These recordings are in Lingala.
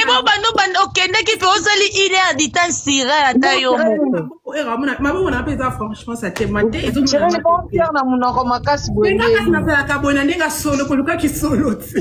ebo bando banda okendeki mpe ozali une heure du temps sira ata yo mokotiere na monoko makasi boyenazalaka boye na ndenge asolo kolukaki solo ti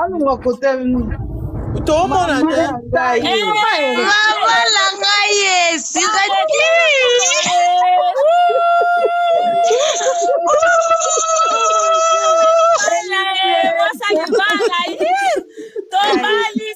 alunga kotelni tomona te mama na ngai esika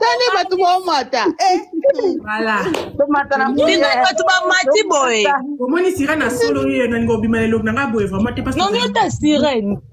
tani bato baomata bino bato bamati boye omoni sira na solo ye nalinga obima na elongi na ngai boye vraimen te nongi ota sirene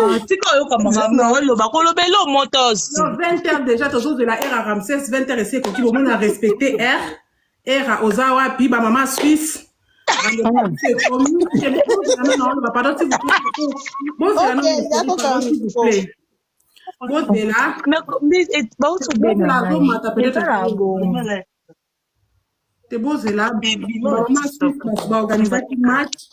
Ah, tika oyoka makambo oloba koloba elo motos Non, 20 heures déjà tozozela heure ya ramses 20 heures esi ekoki bomona respecte heure heure ya oza wapi bamama suisse bozela baosobelazomata peut-être te bozela baorganisaki match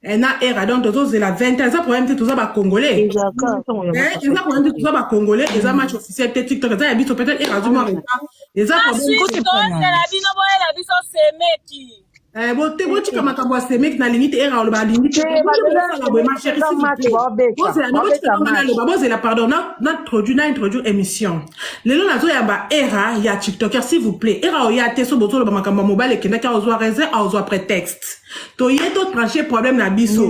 Eh, na era donc tozozela 20 ans eza problème te toza bacongolais eza problème te toza bacongolais eza match officiel te tiktok eza ya biso peut-être era azomwa retard eza problèmela bino boyela biso semeki eh, bote botika makambo ya semeki nalingi te era oloba alingi teosala boye machérisbozela bozela pardon naintroduit na introduit émission lelo nazoyamba era ya tiktoker s'il vous plaît era oya te so bozoloba makambo ya mobali ekendaki aozwa raison aozwa prétexte toye to tranche problème na biso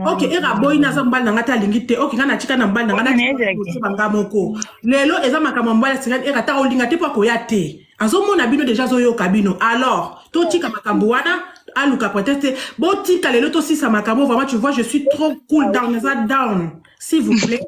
ok era boyi naza mobali na ngai te alingi te ok ngai natika na mobali na ngai nakosoba ngai moko lelo eza makambo ya mobali asengani era ta olinga te mpo akoya te azomona bino deja azoyoka bino alors totika makambo wana aluka pretexte botika lelo tosisa makambo vraiment tu vois je suis trop cool down naza down s'il vous plaît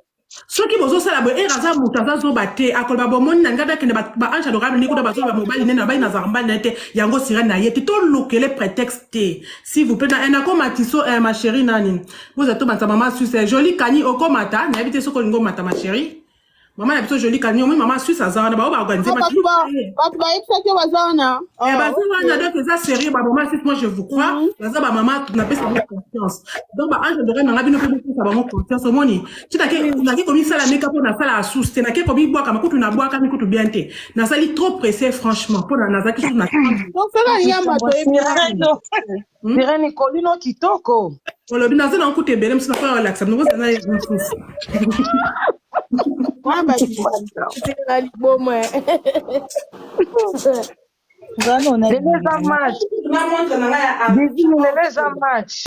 soki bozosala boye ere aza moto aza zoba te akoloba bomoni na ngai akende baange adorable ndenge kuna bazoloba mobali nene nabali nazaka mbali na ye te yango sira na ye te tolukele prétexte te si vous plaît eh, nakoma tiso eh, ma chérie nani boza to banza mama suisse eh, joli kani okomata nayebi te soki olingi omata ma chérie mama na biso joli kani omoi mama suisse aza wana bao baorganize bato bayebisaki baza wana baza wana donc eza sérieux bamama suisse moi je vous crois mhm. baza bamama napesa confiance donc ba ange adoré nanga bino mpe bopesa bango confiance omoni ti nake komisala meka mpo nasala asusu te nake komibwakama kutu nabwakami kutu bien te nasali trop pressé franchement mpo nazalaki susu na osala nyama toyebiireni kolino kitoko olobi naza nango kutu ebele mosu nakoya olakisa bino bozala na mosusu liboma Lelo eza match. Bizini lelo eza match.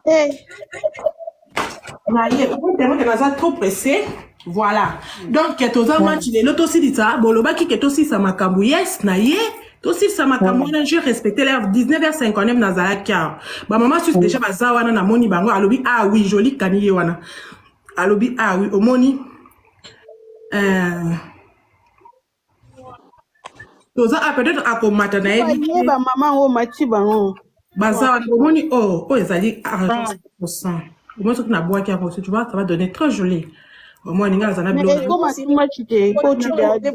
Eh. naye otemoke naza trop pressé voilà donc toza match lelo tosilisa bolobaki ke tosilisa makambo yes na ye tosilisa makambo wana je respecte l'heure 19h59 nazalaki awa bamama susu déjà baza wana namoni bango alobi ah oui joli kani ye wana alobi ah oui omoni Eh, toza ah, peut-être akomata na ye baye bamama yango omati bango baza wana omoni oyo oyo ezali argent 100% omoni soki nabwaki yango soki tu vois ça va donner très joli omoni nga aza na biloko ekoma simaki te kotuda te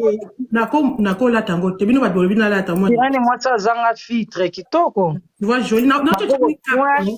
nako nakolata yango te bino bato bolobi nalata omoni yani mwasi azanga filtre kitoko tu vois joli na na Maboko, chochola ouais.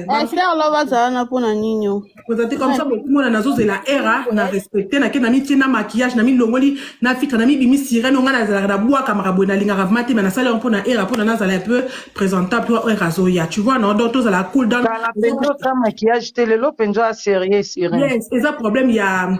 Eh, frère loba azala na mpo na nini o ozati comme ça bokumona nazozela era na respecte nake na mitie na maquillage na milongoli na fitre na mibimi sirene onga nazalaka na bwakamaka boye nalingaka vrema te me nasali yango mpo na era mpo na nazala un peu présentable to era azoya tu vois non donc tozala cool down kala mpenza oza maquillage te lelo mpenza sérieux sirene yes eza problème ya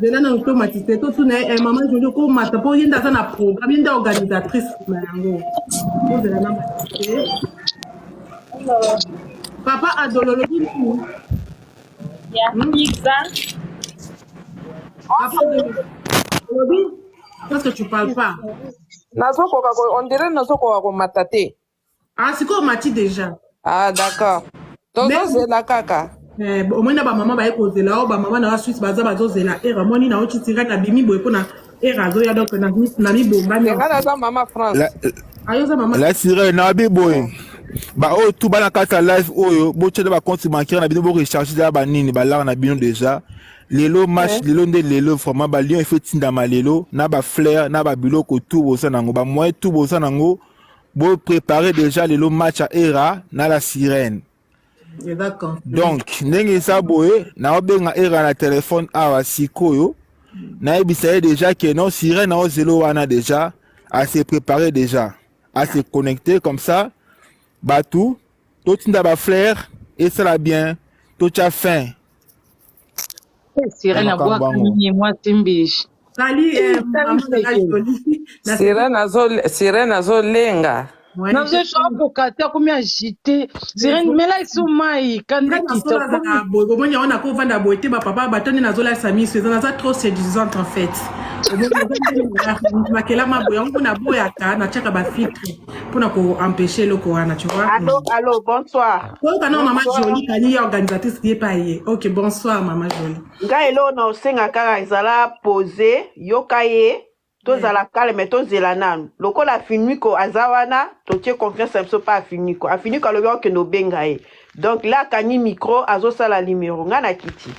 zela nanu tomatise totuna ye eh, mama jojo komata mpo ye nde aza na programme ye nde organisatrice na yango ozela na matise papa adolo olobi nini ya hmm? pizza papa adolo olobi parce que tu parles pas nazokoka on dirait nazokoka komata te Ah, sikoyo omati deja. Ah, d'accord. Tozozela kaka. Eh, bo- omoni na bamama baye kozela o bamama na basuisse baza bazozela era omoni na otiti ngai na bimi boye mpona era azoya donc na- na mibombami Nga naza mama La, France. ayo oza mama la sirène na bi boye baoyo tu bana kati ya live oyo botyela bakonti bancaire na bino borecharge deja banini balaka na bino deja lelo match lelo nde lelo vraiment balion efe etindama lelo na baflair na babiloko tu boza nango bamoyen tu boza nango Bo préparer déjà lelo match à Era na la sirène. Donc ndenge eza boye naobenga Era na telefone awa sikoyo nayebisa ye déjà que non sirène ao zelo wana déjà à se préparer déjà à se connecter comme ça bato totinda baflaire esala bien totya fin Sirène abwaka nini mwasi mbishi. Sali eh, maman na la jolie. Na Sirène azo Sirène azo lenga. mwani nazo shora kokate akomi agite sirene mela esu mai kanda Ngai kita nasola aza na boye bomoni yango nako vanda boye te bapapa bato nde nazolalisa miso eza naza trop séduisante en fait Omoni, naza nde na- makelama boye yango mpo naboyaka natiaka bafiltre pona ko empêcher eloko wana tu vois allo allo bonsoir koyoka na mama jolie kani ye organisatrice ye pa ye ok bonsoir mama jolie ngai eloko na osenga kaka ezala pose yoka ye tozala calme tozela nanu lokola finiko aza wana totie confiance na biso mpa afiniko afiniko alobi akokende obenga ye donc la akangi micro azosala limero ngai na kiti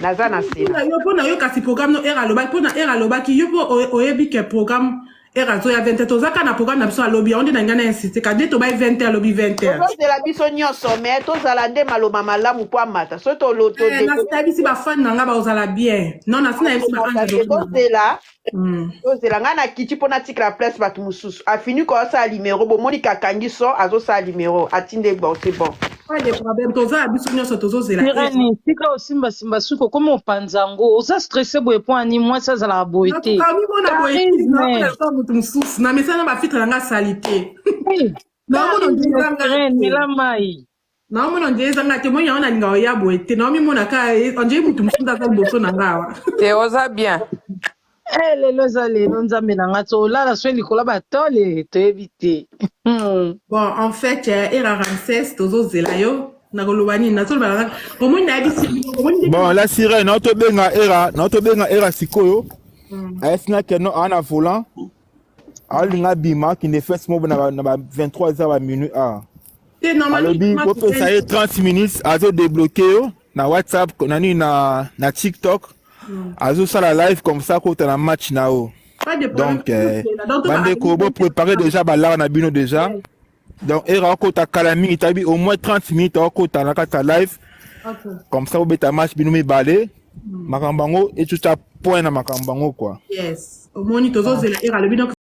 naza na sena yo mpo na yo kasi programme no ere alobaki mpo na ere alobaki yo mpo oyebi ke programme ere azoya 20 toza kaka na programme na biso alobi yango nde na ngai na insiste kade tobai 20 alobi 20 tozozela biso nyonso me tozala nde maloba malamu mpo amata soki tolotodebisi bafani na ngai baozala bien non nasi nayebisitozela hmm. tozela ngai nakiti mpo natikela place bato mosusu afini koasala limero bomoni kakangi so azosala limero atinde bon se bon Pas de problème, toza biso nyonso tozozela. Irani, tika osimba simba suko koma opanza yango. Oza stressé boye po ani mwasi azalaka boye te. Nakomi mona boye Charisme. nakomi lokola moto mosusu na mesana bafitre na ngai salite. Hey, Naomona charisme, ondira ngai Irene, te. mela mai. Naomona ondira eza ngai te. Moi yango nalingaka oya boye te. Naomi mona ka ondira moto mosusu nde aza liboso na ngai awa. te oza bien Eh, lelo eza lelo nzambe na nga tolala soki likolo ya batole toyebi te Hmm. bon en fait eh, era ramses tozozela yo nakoloba nini nazoloba na ngai omoni nayebisi bino omoni ndenge bon na la sirène naotobenga era naotobenga era sikoyo Mm. ayesi na keno aa na volant alinga bima akende fes mobo na ba 23 eza ba minui a alobi kopesa ye 30 minutes azo debloke yo na whatsapp na nini na, na tiktok hmm. azosala live comme ça kota na match na yo donc euh, bandeko boprépare déjà balaka na bino déjà donc era akota kala mingi tabi au moins 30 minutes akota na kati ya live okay. comme ça obeta match bino mibale mm. makambo yango etuta point na makambo yango quoi yes omoni tozozela era alobi